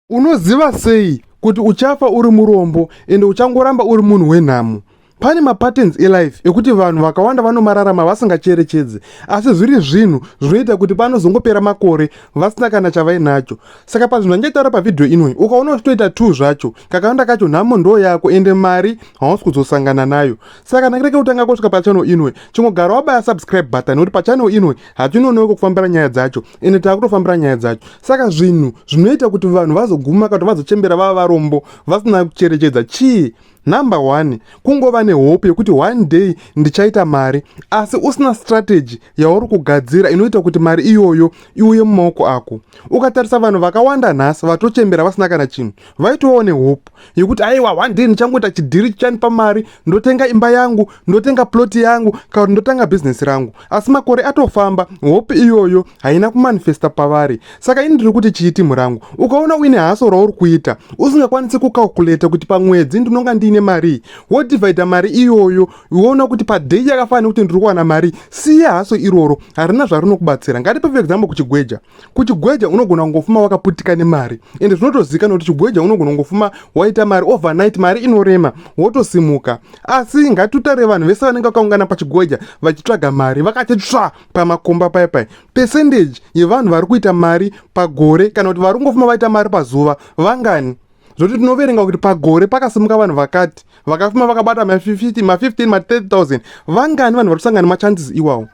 unoziva sei kuti uchafa uri murombo ende uchangoramba uri munhu wenhamo pane mapatterns elife ekuti vanhu vakawanda vanomararama vasingacherechedzi asi zviri zvinhu zvinoita kuti panozongopera makore vasina kana chavainacho saka pazvinhu anjaitaura pavhidhiyo inoi ukaona uchitoita two zvacho kakawanda kacho nhamo ndoo yako ende mari hausi kuzosangana nayo saka kana kireke kutanga kusvika pachannel inoi chingogara wabaya subscribe button nekuti pachannel inoi hatinonewe kukufambira nyaya dzacho ende taakutofambira nyaya dzacho saka zvinhu zvinoita kuti vanhu vazoguma kato vazochembera vava varombo vasina kucherechedza chii number one kungova nehope yekuti one day ndichaita mari asi usina strategy yauri kugadzira inoita kuti mari iyoyo iuye mumaoko ako ukatarisa vanhu vakawanda nhasi vatochembera vasina kana chinhu vaitovawo nehope yekuti aiwa one day ndichangoita chidhiri chichandipa mari ndotenga imba yangu ndotenga plot yangu kana kuti ndotanga bhizinesi rangu asi makore atofamba hope iyoyo haina kumanifesta pavari saka ini ndiri kuti chii timu rangu ukaona uine haso rauri kuita usingakwanisi kucalculata kuti pamwedzi ndinonga ndiine marii wodivhaidha mari iyoyo woona kuti padhei yakafanira kuti ndiri kuwana mari siya haso iroro harina zvarinokubatsira ngatipe for example kuchigweja kuchigweja unogona kungofuma wakaputika nemari ende zvinotozivikanwa kuti chigweja unogona kungofuma waita mari overnight mari inorema wotosimuka asi ngatitare vanhu vese vanenge vakaungana pachigweja vachitsvaga mari vakati tsva pamakomba paye paye percentage yevanhu vari kuita mari pagore kana kuti vari kungofuma vaita mari pazuva vangani zvokuti tinoverenga kuti pagore pakasimuka vanhu vakati vakafuma vakabata ma50 ma15 ma30000 vangani vanhu vari kusangana machances iwawo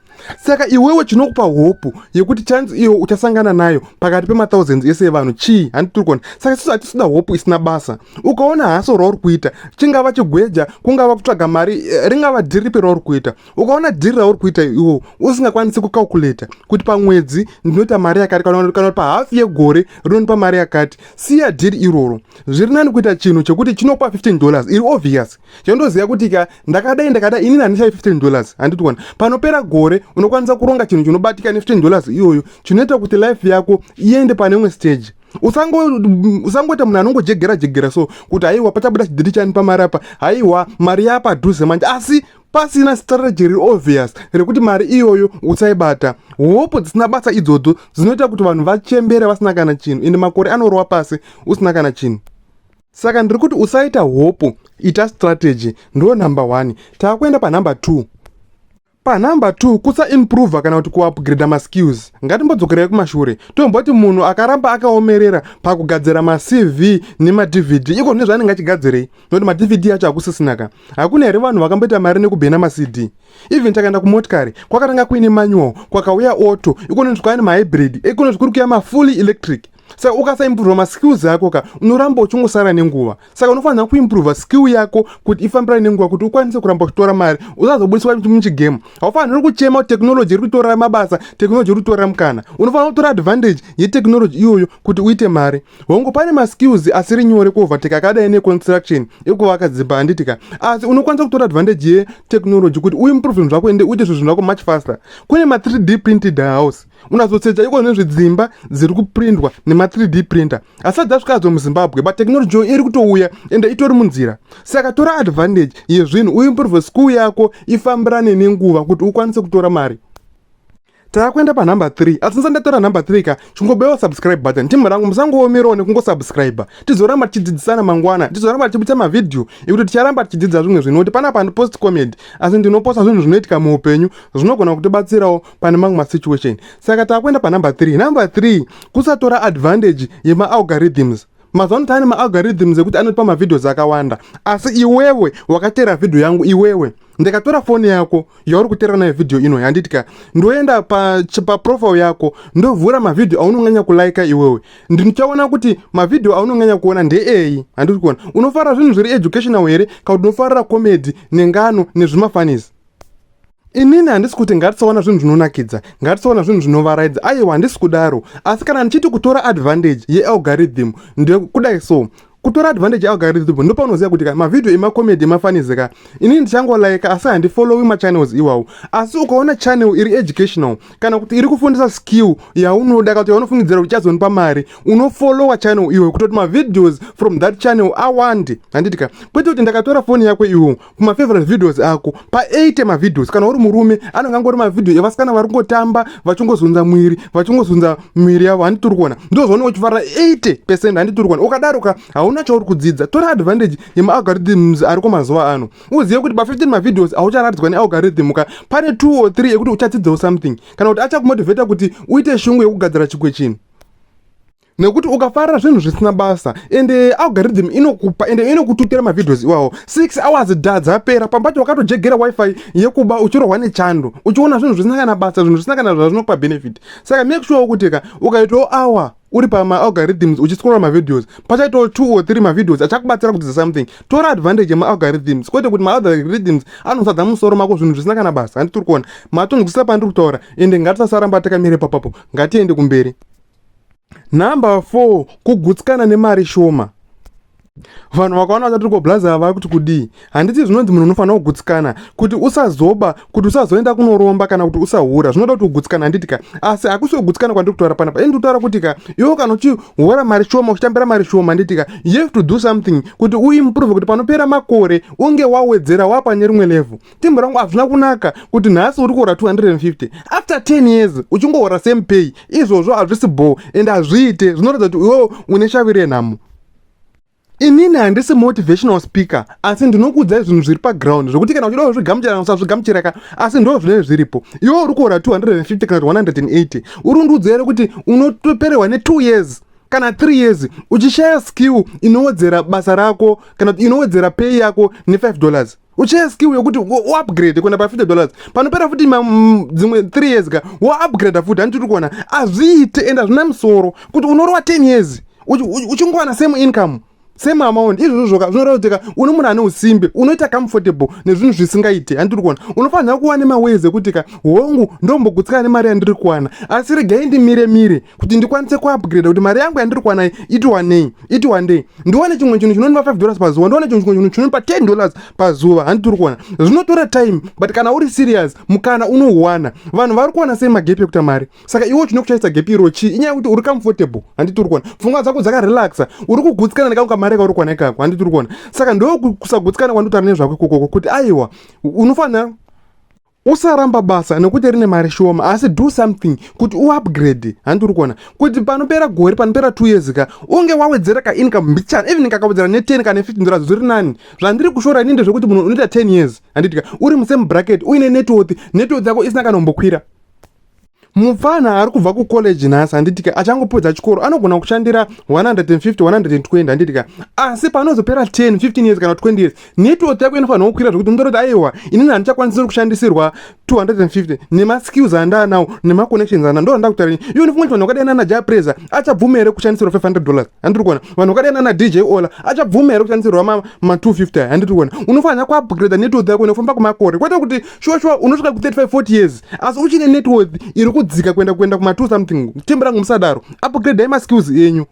saka iwewe chinokupa hopu yekuti chance iyo uchasangana nayo pakati pemathousands ese evanhu chii handitirikona saka sisu hatisida hopu isina basa ukaona haso rauri kuita chingava chigweja kungava kutsvaga mari eh, ringava dhiripi rauri kuita ukaona dhiri rauri kuita iwo usingakwanisi kucalculator kuti pamwedzi ndinoita mari yakati kana pahafu yegore rinonipa mari yakati siya dhiri iroro zviri nani kuita chinhu chekuti chinopa 15 dollars iri obvious chandoziva kuti ka ndakadai ndakadai inini handichai 15 dollars handitiwana panopera gore unokwanisa kuronga chinhu chinobatika ne 15 dollars iyoyo chinoita kuti life yako iende pane imwe stage usangoita munhu anongojegera jegera so kuti haiwa pachabuda chidhiri chani pamari apa haiwa mari yapadhuze manje asi pasina strategy reobvious rekuti mari iyoyo usaibata hope dzisina basa idzodzo dzinoita kuti vanhu vachembere vasina kana chinhu ende makore anorova pasi usina kana chinhu saka ndiri kuti usaita hope ita strategy ndo number one taakuenda panumber two panumber two kusaimprova kana kuti kuupgrada maskills ngatimbodzokerai kumashure tomboti munhu akaramba akaomerera pakugadzira macv nemadvd iko nezvaanenge achigadzirei noti madvd acho hakusisina ka hakuna here vanhu vakamboita mari nekubhena macd even takaenda kumotikari kwakatanga kuine manual kwakauya auto ikonoti kwaine mahybrid ikonoti kuri kuya mafully electric saka ukasaimprova maskills ako ka unoramba uchingosara nenguva saka unofanira kuimprova skill yako kuti ifambirane nenguva kuti ukwanise kuramba uchitora mari usazobudiswa muchigame haufaniri kuchema kuti technology iri kutora mabasa technology iri kutora mukana unofanira kutora advantage yetechnology iyoyo kuti uite mari hongu pane maskills asiri nyore kuovertake akadai neconstruction ekuvaka dzimba handitika asi unokwanisa kutora advantage yetechnology kuti uimprove zvinhu zvako ende uite zvinhu zvinhu zvako much faster kune ma3d printed house unazosecha iko nezve dzimba dziri kuprindwa nema3d printer asi adzasvika adzo muzimbabwe but technology yo iri kutouya ende itori munzira saka tora advantage yezvinhu uimprove school yako ifambirane nenguva kuti ukwanise kutora mari takuenda panumber 3 asi ndisati ndatora number 3 ka chingobaiwa subscribe button team rangu musangoomerawo nekungosubscribe tizoramba tichidzidzisana mangwana tizoramba tichibudisa mavhidhiyo ekuti ticharamba tichidzidza zvimwe zvinhu kuti panapa ndipost comedy asi ndinoposta zvinhu zvinoitika muupenyu zvinogona kutibatsirawo pane mamwe masituation saka takuenda panumber 3 number 3 kusatora advantage yemaalgorithms mazuva ano taane maalgorithms ekuti anotipa mavideos akawanda asi iwewe wakateera vhidhiyo yangu iwewe ndikatora foni yako yauri kuteera nayo vhidhiyo ino handiti ka ndoenda paprofile pa yako ndovhura mavhidhiyo aunonganya kulaika iwewe ndichaona kuti mavhidhiyo aunonganya kuona ndeeyi handiti kuona unofara zvinhu zviri educational here ka kuti unofarira comedy nengano nezvimafanisi inini handisi kuti ngatisaona zvinhu zvinonakidza ngatisaona zvinhu zvinovaraidza aiwa handisi kudaro asi kana ndichiti kutora advantage yealgorithm ndekudai so kutora advantage yealgorithm ndopaunoziva kuti ka mavhidhiyo emacomedy emafanisi ka inini ndichangolaika asi handifollowi machannels iwawo asi ukaona channel iri educational kana kuti iri kufundisa skill yaunoda kana kuti yaunofungidzira kuti chazonipa mari unofollowa channel iwe kutoti mavhidhios from that channel awande handiti ka kwete kuti ndakatora foni yako iwo kuma favorite videos ako pa 8 ma videos kana uri murume anenge angori ma video evasikana vari kungotamba vachingozunza mwiri vachingozunza mwiri yavo handi turi kuona ndozvaona uchifarira 80 percent handi turi kuona ukadaro ka hauna chauri kudzidza tora advantage yema algorithms ariko mazuva ano uzive kuti pa 15 ma videos aucharatidzwa ne algorithm ka pane 2 or 3 ekuti uchadzidzawo something kana kuti achakumotivata kuti uite shungu yekugadzira chikwe chinhu nekuti ukafarira zvinhu zvisina basa ende algorithm inokupa ende inokututira mavideos iwawo 6 hours da dzapera pambacho wakatojegera wifi yekuba uchirohwa nechando uchiona zvinhu zvisina kana basa zvinhu zvisina kana zvazvinokupa benefit saka make sure kuti ka ukaitawo hour uri pamaalgorithms uchiscrolla mavideos pachaitawo two or three mavideos achakubatsira kudzidza something tora advantage yemaalgorithms kwete kuti maalgorithms anosadza musoro mako zvinhu zvisina kana basa handitiri kuona matonzwisisa pandiri kutaura ende ngatisasaramba takamire papapo ngatiende kumberi Number four, kugutsikana nemari shoma. Vanhu vakaona vachati tiri koblaza ava kuti kudii? Handiti zvinonzi munhu unofanira kugutsikana kuti usazoba, kuti usazoenda kunoromba kana kuti usahura. Zvinoda kuti ugutsikana handiti ka? Asi hakusi kugutsikana kwandiri kutaura panapa. Ini ndikutaura kuti ka, iwe kana uchihora mari shoma, uchitambira mari shoma handiti ka, you have to do something kuti uimprove kuti panopera makore unge wawedzera wapane rimwe level. tembo rangu hazvina kunaka kuti nhasi uri kuhora 250 after 10 years uchingohora same pay izvozvo hazvisi bho and hazviite zvinoratidza kuti iwewo une shavi renhamo inini handisi motivational speaker asi ndinokuudzai zvinhu zviri paground zvekuti kana uchida kuzvigamuchira usazvigamuchiraka asi ndo zvinee zviripo iwo uri kuhora 250 kana 180 uri undiudza here kuti unotoperehwa ne 2 years kana 3 years uchishaya skill inowedzera basa rako kana kuti inowedzera pay yako ne 5 dollars uchaya skill yokuti uupgrade kuenda pafifty dollars panopera futi dzimwe three years ka waupgrade futi handi tiri kuona hazviite and hazvina musoro kuti unorowa ten years uchingowana same income same amount izvozvoka zvinoreva kuti ka une munhu ane usimbe unoita comfortable nezvinhu zvisingaite handi tiri kuona unofanira kuva nemaways ekuti ka hongu ndombogutsikana nemari yandiri kuwana asi regai ndimire mire kuti ndikwanise kuupgrade kuti mari yangu yandiri kuwana iti wanei iti wandei ndiwane chimwe chinhu chinondipa 5 dollars pazuva ndiwane chimwe chinhu chinondipa 10 dollars pazuva handi tiri kuwana zvinotora time but kana uri serious mukana unouwana vanhu vari kuwana sei magepi ekuta mari saka iwe chine kuchaisa gepi iro chii inyaya yekuti uri comfortable handi tiri kuwana pfungwa dzako dzakarelaxa uri kugutsikana nekangu kamari kauri kuwana ikako handi tiri kuwana saka ndokusagutsikana kwanditaura nezvako ikokoko kuti aiwa unofanira usaramba basa nekuti rine mari shoma asi do something kuti uupgrade handi uri kuona kuti panopera gore panopera two years ka unge wawedzera ka income mbichana even kakawedzera ne ten kana fifteen dollars zviri nani zvandiri kushora ini ndezvekuti munhu unoita ten years handitika uri musame bracket uine networth networth yako isina kana umbokwira mupfana ari kubva kucollege nhasi handitika achangopedza chikoro anogona kushandira 150 120 handitika asi panozopera 10 15 years kana 20 years network yako inofanirwa kukwira zvekuti unotoroti aiwa inini handichakwanisiri kushandisirwa 250 nemaskills andaanawo nemaconnections ana ndo anda kutarini iyo nifunga kuti vanhu vakadai nana ja presa achabvuma here kushandisirwa 500 dollars handiri kuona vanhu vakadai nana dj ola achabvuma here kushandisirwa ma 250 handiri kuona unofanira kuupgrade network yako inofamba kwemakore kwete kuti shuwa shuwa unosvika ku 35 40 years asi uchine net worth iri kudzika kuenda kuenda kuma 2 something tembo rangu musadaro upgradai maskills enyu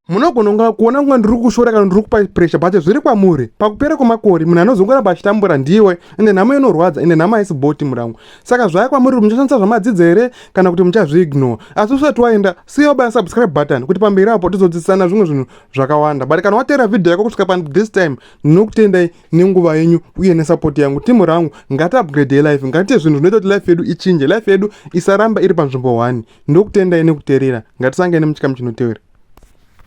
munogona kunga kuona kunga ndiri kushora kana ndiri kupa pressure but zviri kwamuri pakupera kwemakore munhu anozongoramba achitambura ndiwe ende nhamo inorwadza ende nhamo haisi boti murangu saka zvaya kwamuri kuti muchashandisa zvamadzidza here kana kuti muchazviignore asi usati waenda siya wabaya subscribe button kuti pamberi apo tizodzidzisana zvimwe zvinhu zvakawanda but kana wateera vhidhiyo yako kusvika pan this time ndinokutendai nenguva yenyu uye nesapoti yangu timu rangu ngati upgrade yelife ngatiite zvinhu zvinoita kuti life yedu ichinje life yedu isaramba iri panzvimbo one ndokutendai nekuterera ngatisangane muchikamu chinotevera